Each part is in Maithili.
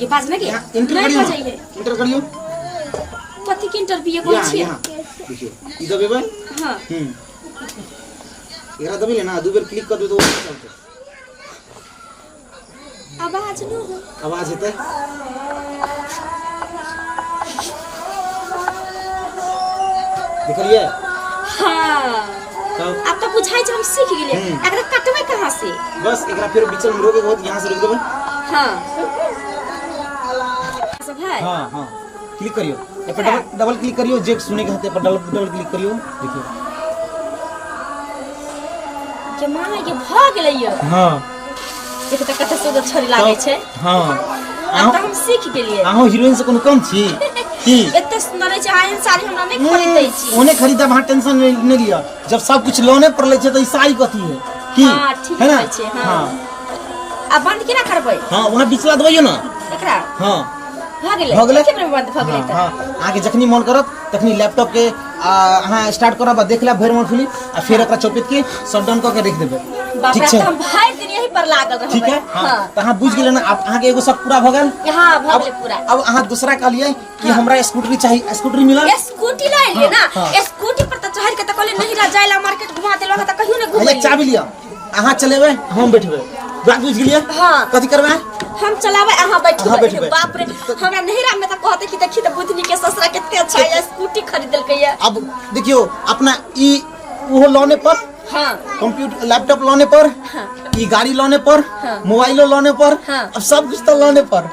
ये बात नहीं किया यहाँ इंटर करियो जाइए इंटर करियो पति के इंटर भी ये बोल यहाँ छिए यहाँ देखियो ई सब एबै हां हम्म एकरा दबी ले ना दू बेर क्लिक कर दे तो वो चलते आवाज न हो आवाज हेतै देखलिए हाँ तब अब तो बुझाई छै हम सीख गेलिए हम्म। एकरा कटबै कहाँ से बस एकरा फिर बीच में रोके बहुत यहाँ से रोक देबै हाँ सब है हाँ हाँ क्लिक करियो ए पर डबल डबल क्लिक करियो जे सुने के हते पर डबल डबल क्लिक करियो देखियो जमाना के भऽ गेलै यौ हाँ देखिए तऽ कते सुन्दर छड़ी लागै छै हाँ आब तऽ हम सीख गेलियै अहूँ हीरोइन से कोनो कम छी की एते सुन्दर रहै छै अहाँ एहन साड़ी हमरा नहि खरीदै छी ओने खरीदब अहाँ टेंशन नहि नहि लिअ जब सब कुछ लोने पर लै छै तऽ ई साड़ी कथी है की हाँ, ठीक है ना कहै छियै, हाँ। हाँ आ बंद केना करबै हाँ वहाँ बिचला दबाइयो ना एकरा हाँ भऽ गेलै भऽ गेलै एके बेर बंद भऽ गेलै हाँ, तऽ हाँ। अहाँके जखनी मन करत तखनी लैपटॉप के अहाँ स्टार्ट करब आ देख लेब भरि मोन फिलिम आ फेर एकरा चौपित के शट डाउन कऽ के रख देबै बाप ठीक रे, छै तऽ हम भरि दिन यही पर लागल रहबै ठीक है हाँ हाँ तऽ अहाँ बुझि गेलियै ने आब अहाँके एगो शक पूरा भऽ गेल यहाँ भऽ अब गेलै पूरा अब अहाँ दूसरा कहलियै कि हमरा स्कूटरी चाही स्कूटरी मिलल ए, स्कूटी लए लिए ना हाँ, हाँ। ए, स्कूटी पर तऽ चढ़ के तऽ कहले नहीं रह जाइला मार्केट घुमा देलक तऽ कहियो ने अरे घुमैली चाबी लिअ अहाँ चलेबै हम बैठबै बात बुझि गेलियै हाँ। कथी करबै हम चलाबै अहाँ अहाँ बैठबै बैठबै। बाप रे हमरा नहिरा में त कहते कि देखी त बुधनी के ससुरा केते अच्छा है स्कूटी खरीद देलकै है अब देखियो अपना ई ओहो लौने पर हां कंप्यूटर लैपटॉप लौने पर ई गाड़ी लौने पर हाँ। मोबाइलो लौने पर हाँ। अब सब कुछ तो लौने पर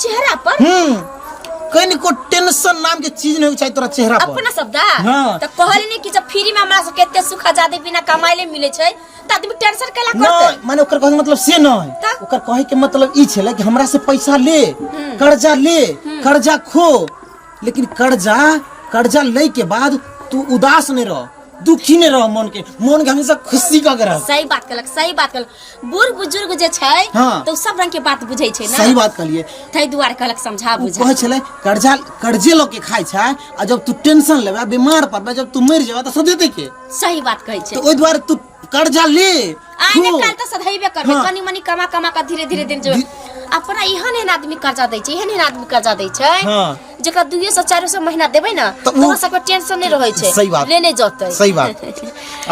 चेहरा पर हम्म कहीं को टेंशन नाम के चीज नहीं चाहिए तोरा चेहरा पर अपना शब्द हाँ। त कहले ने कि जब फ्री में हमरा से केते सुख आजादी बिना कमाइले मिले छै त आदमी टेंशन कैला करते नहीं माने ओकर कहे के मतलब से नहीं तब? ओकर कहे के मतलब ई छले कि हमरा से पैसा ले कर्जा ले कर्जा खो लेकिन कर्जा कर्जा ले के बाद तू उदास नहीं रह दुखी नहि रह मन के मन के हमेशा खुशी कऽ के रह सही बात कहलक सही बात कहलक बूढ़ बुजुर्ग जे छै हाँ। तऽ ओ सब रंग के बात बुझै छै सही ने बात कहलिए ताहि दुआरे कहलक समझा उ बुझा कहै छलै कर्जा कर्जे लऽ के खाइ छै आ जब तू टेंशन लेबे बीमार पड़बे जब तू मरि जेबे तऽ सदेते के सही बात कहै छै तऽ ओहि दुआरे तू कर्जा ले आइ ने खो। काल्हि तऽ सधैबे करबै हाँ। कनी मनी कमा कमा कऽ धीरे धीरे दिन जेबै अपना एहन एहन आदमी कर्जा दै छै एहन एहन आदमी कर्जा दै छै हाँ। जेकरा दुइये सौ चारो सौ महीना देबै ने तऽ उ- तोरा सबके टेंशन नहि रहै छै सही बात। लेने जतै सही बात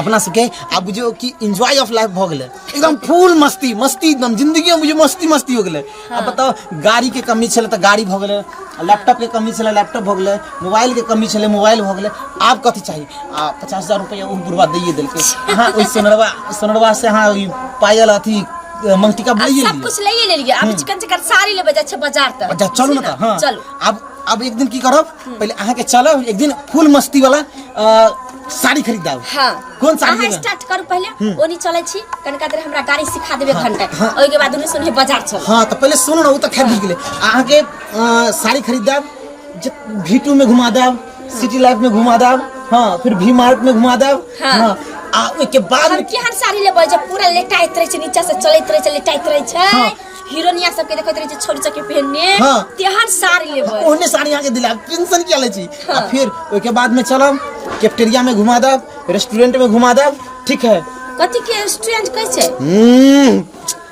अपना सबके आब बुझियो कि एंजॉय ऑफ लाइफ भऽ गेलै एकदम फुल मस्ती मस्ती एकदम जिंदगी में बुझियो मस्ती मस्ती हो गेलै अब बताओ गाड़ी के कमी छलै तऽ गाड़ी भऽ गेलै लैपटॉप के कमी छलै लैपटॉप भऽ गेलै मोबाइल के कमी छलै मोबाइल भऽ गेलै आब कथी चाही आ पचास हजार रुपैआ ओ बुढ़वा दैए देलकै अहाँ ओहि सोनरवा सोनरवा से अहाँ ओहि पायल अथी अ, महटिका अब बुलाइए सब लिए कुछ लइए लेलिए अब चिकन चिकन साड़ी लेबे जाय छै बाजार तक अच्छा चलू ना ठीक तऽ हाँ चलू अब अब एक दिन की करब पहले अहाँ के चलब एक दिन फुल मस्ती वाला अ, साड़ी खरीद दाओ हाँ कोन साड़ी अहाँ लेबै? स्टार्ट करू पहिले ओनी चलै छी कनिका देर हमरा गाड़ी सिखा देबे घंटा हाँ। ओहिके बाद दुनू सुनहे बाजार चल हाँ तो पहले सुनू ना वो तो खरीद गेले अहाँ के अ, साड़ी खरीद दाओ भी टू में घुमा देब सिटी लाइफ में घुमा देब हाँ फिर भी मार्ट में घुमा देब हाँ। हाँ आ ओके बाद हम केहन साड़ी लेबै जे पूरा लेटाइत रहै छै नीचा से चलैत रहै छै लेटाइत रहै छै हाँ। हीरोनिया सबके देखैत रहै छै छोड़ चके पहनने हाँ। तेहन साड़ी लेबै ओहने साड़ी अहाँके दिलायब टेंशन किया लै छी आ हाँ। फिर ओहिके बादमे चलब कैफेटेरिया में घुमा देब रेस्टोरेंट में घुमा देब ठीक है कथी के रेस्टोरेंट कहै छै हम्म,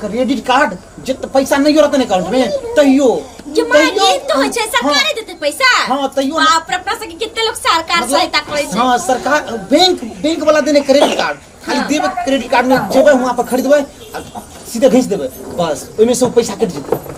क्रेडिट कार्ड जे त पैसा नहीं रहते ने कार्ड में तैयो जे माय तैयो- दिन तो होय छै सरकारे देते पैसा हाँ, तैयो ना- बाप रे अपना सबके कितने लोग सरकार मतलब- सहायता करे छै हाँ सरकार बैंक बैंक वाला देने क्रेडिट कार्ड खाली हाँ। देबे क्रेडिट कार्ड में जेबे वहाँ पर खरीदबे आ सीधे भेज देबे बस ओहिमे से ओ पैसा कटि जेतै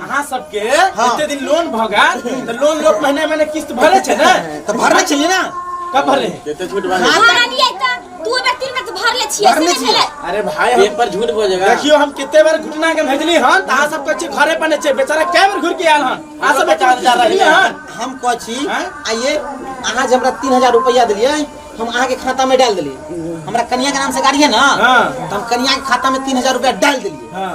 अहाँ सबके एते दिन लोन भऽ गेल तऽ लोन लोक महीने महीने किस्त भरे छै ने तऽ भरना चाहिए ना कब भरे केते झूठ बाजे भरा दिए त दू बेर तीन बेर त भर ले छिए भरने से छियै। भेलै अरे भाई हम पेपर झूठ बजेगा देखियो हम कते बार घुटना के भेजली हन तऽ अहाँ सब कहै छी घरे पर नहि छै बेचारा कए बेर घुर के आयल हन अहाँ सब पचास हजार रखली रखले हन हम कहै छी हैं? आइए अहाँ जे हमरा तीन हजार रुपया देलियै हम अहाँके खाता में डाल देलियै हमरा कनिया के नाम से गाड़ी है ना हाँ। तो हम कनिया के खाता में तीन हजार रुपया डाल देलियै हाँ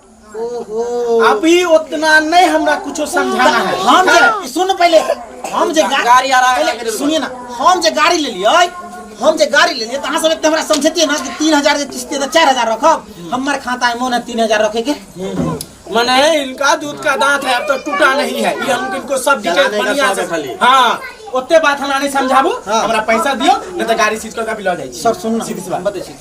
अभी उतना नहीं हमरा कुछो समझाना है हम जे सुन पहले हम जे गा- गाड़ी आरा के पहले लेके सुनिए ना हम जे गाड़ी ले लिए हम जे गाड़ी ले लिए तो अहाँ सब एते हमरा समझेतिए ना कि तीन हजार के किस्ती तो चार हजार रखब हमार खाता में मोन है तीन हजार रखे के मने इनका दूध का दांत है अब तो टूटा नहीं है ये हम इनको सब डिटेल जलाने का बढ़िया स्वाद से है खाली। हाँ ओते बात हमरा नहीं समझाबू हाँ। हमरा पैसा दियो नहीं तो गाड़ी सीज करके अभी लऽ जाइ छी सब सुन ना सीधी सी बात। बतै छी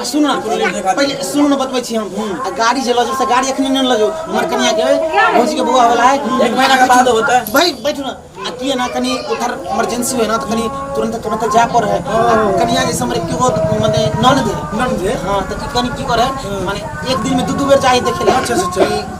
आ सुन ना पहले सुन ना बतबै छी हम आ गाड़ी जे लजो से गाड़ी एखने नै लजो हमर कनिया के भौजी के बौआ वाला है एक महीना के बाद होता है भाई बैठो ना आ किए ना कनी उधर इमरजेंसी होय ना तो कनी तुरंत तुरंत जाय पर है कनिया जैसे हमरे के बहुत माने नन दे नन दे हां तो कनी की करे माने एक दिन में दू दू बेर जाए देखे ले अच्छा अच्छा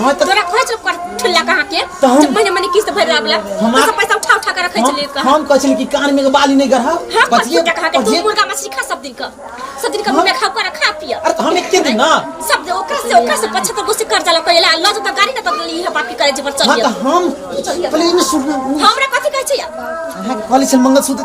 ना त तोरा खोज कर ठुल्ला कहाँ के तो हम- जब महीने महीने किस्त भर रहा बला हम- पैसा पैसा उठा उठा के रखे चले हम कहाँ हम कहै छली कि कान में के बाली नहीं गढ़ा हाँ पर तू कहाँ के तू मुर्गा मछली खा सब दिन का सब दिन का मुर्गा खा कर खा पिया अरे तो हम एके दिन ना सब दे ओकरा से ओकरा से पछा तो गुस्से कर जाला कइला अल्लाह तो गाड़ी ना तो ई है बाकी करे जे पर हाँ चलिए तो हम पहले इने सुन हमरा कथी कहै छै यार अहाँ के कहली छल मंगलसूत्र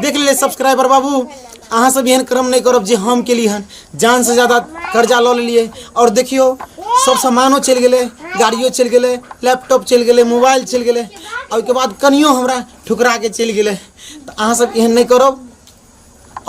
देख ले सब्सक्राइबर बाबू अहाँ सब एहन क्रम नहीं करब जे हम के लिए हन जान से ज्यादा कर्जा लऽ लेलिए और देखियो सब सामानो चल गए गाड़ियों चल गए लैपटॉप चल गए मोबाइल चल गए और के बाद कनियो हमरा ठुकरा के चल गए तो अहाँ सब एहन नहीं करब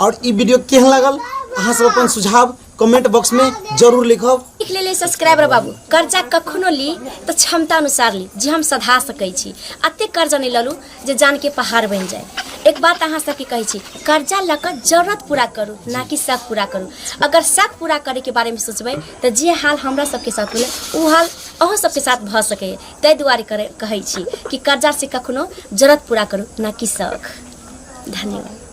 और ई वीडियो केहन लगल अहाँ सब अपन सुझाव कमेंट बॉक्स में जरूर लिखब लिख लेले सब्सक्राइबर बाबू कर्जा कखनो ली तऽ क्षमता अनुसार ली जे हम सधा सकै छी अते कर्जा नहि ललू जे जान के पहाड़ बनि जाए एक बात अहाँ सबके कहै छी कर्जा लऽ कऽ जरूरत पूरा करू ना कि शक पूरा करू अगर शक पूरा करे के बारे में सोचबै तऽ जे हाल हमरा सबके साथ भेलै ओ हाल अहूँ सबके साथ भऽ सकैए ताहि दुआरे करे कहै छी कि कर्जा से कखनो जरूरत पूरा करू ना कि शक धन्यवाद